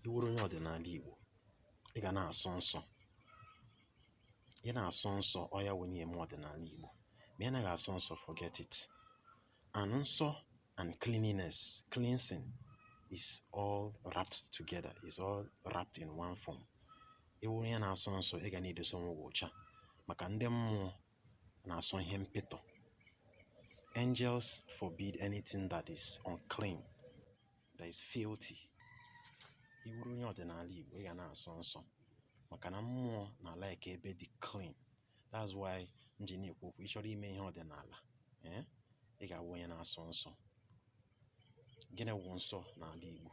ị wụrụ onye ọdịnala Igbo ị ga na-asọ nsọ ị na-asọ nsọ ọ ya wụ ime ọdịnala Igbo ma ị naghị asọ nsọ forget it and nsọ and cleanliness cleansing is all wrapped together is all wrapped in one form ị wụrụ onye na-asọ nsọ ị ga na-edosa onwe gị ọcha maka ndị mmụọ na-asọ ihe mpịtọ angels forbid anything that is unclean that is filthy ị wụrụ onye ọdịnala igbo ị ga na-asọ nsọ maka na mmụọ na-alike ebe dị clean that's why m ji na-ekwu okwu ị chọrọ ime ihe ọdịnala eh, ị ga-awụ onye na-asọ nsọ gịnị wụ nsọ n'ala igbo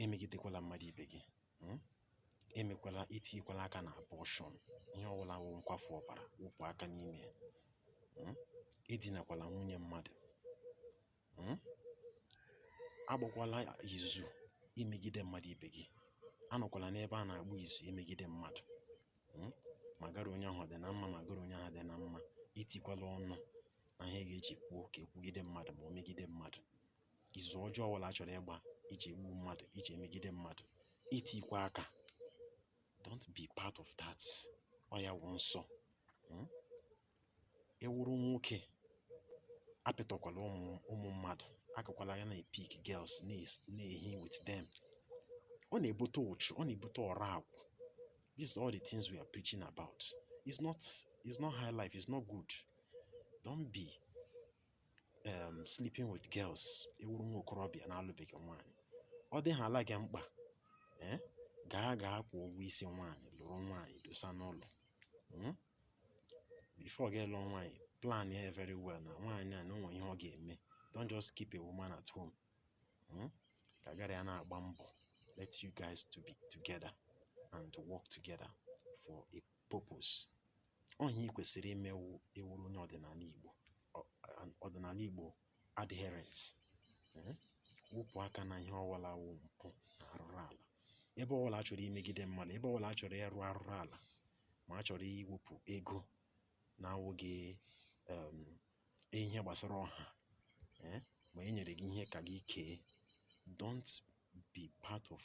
emegidekwala mmadụ ibe gị hmm? emekwala itikwala aka na abọshọn ihe ọwụla wụ nkwafu ọbara wụpụ aka n'ime ya hmm? edinakwala nwunye mmadụ hmm? agbakwala izu imegide mmadụ ibe gị anọkwala n'ebe a na-agba izu imegide mmadụ hmm? ma gị na onye ahụ dị na mma ma gị na onye ahụ dị na mma itikwala ọnụ na ihe a ga-eji kwuo ka e kwugide mmadụ ma o megide mmadụ izu ọjọọ ọwụla a chọrọ ịgba iji egbu mmadụ iji emegide mmadụ itikwa aka don't be part of that ọ ya wụ nsọ hmm? ị wụrụ nwoke apịtọkwala ụmụ mmadụ agakwala na-epick girls na-ehi with them ọ na-ebute ụchụ ọ na-ebute ọrịa agwụ this is all the things we are preaching about it's not it's not high life it's not good don't be um sleeping with girls ị wụrụ nwa okorobịa na-alụbeghị nwaanyị ọ dịhaala gị mkpa ee eh? gaa gaa kwụọ ụgwọ isi nwaanyị lụrụ nwaanyị dosa n'ụlọ hmm? before gị alụọ nwaanyị plan ya very well na nwaanyị a na o nwe ihe ọ ga-eme don't just keep a woman at home hmm? ka gị na ya na-agba mbọ let you guys to be together and work together for a purpose ọ ihe i kwesịrị ime ị wụrụ onye ọdịnala Igbo ọdịnala Igbo adherent eh? wụpụ aka na ihe ọwụla wụ mpụ na arụrụ ala ebe ọwụla a chọrọ imegide mmadụ ebe ọwụla a chọrọ ịrụ arụrụ ala ma a chọrọ iwepụ ego na-awụghị um, ihe gbasara ọha eh? ma e nyere gị ihe ka gị kee don't be part of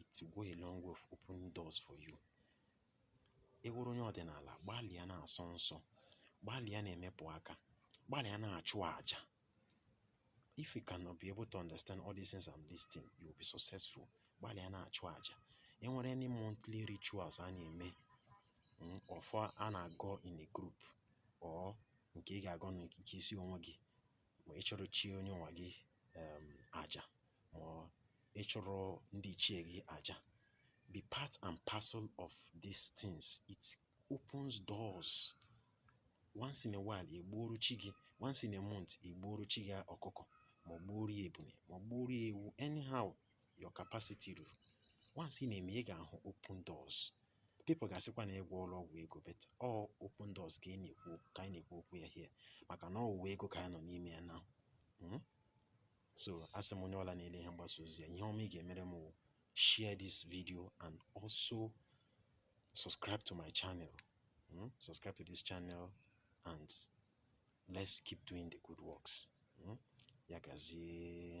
it will go a long way of opening doors for you ị wụrụ onye ọdịnala gbalịa na-asọ nsọ gbalịa na-emepụ aka gbalịa na-achụ àjà if you can be able to understand all these things I'm listing you will be successful gbalịa na-achụ àjà enwere any monthly rituals a na-eme mm, ọfọ a na-agọ in a group or nke ị ga-agọ n'ikike isi onwe gị ma ị chụọrọ chi onye ụwa gị um, àjà ma ọ ị chụọrọ ndị ichie gị àjà be part and parcel of these things it opens doors once in a while i gbuoro chi gị once in a month i gbuoro chi gị ọkụkọ ma ọ gbuoro ya ebune ma ọ gbuoro ya ewu anyhow your capacity ruru once ị na-eme ị ga-ahụ open doors people ga-asịkwa na ị gwọrọ ọgwụ ego but ọ open doors ka anyị na-ekwu ka anyị na-ekwu okwu ya here maka na ọ wụ ụwa ego ka anyị nọ n'ime ya na hmm? so asị m onye ọ wụla na-ele ihe mgbasa ozi a ihe ọma ị ga-emere m wụ share this video and also subscribe to my channel mm? subscribe to this channel and let's keep doing the good works mm? ya gazie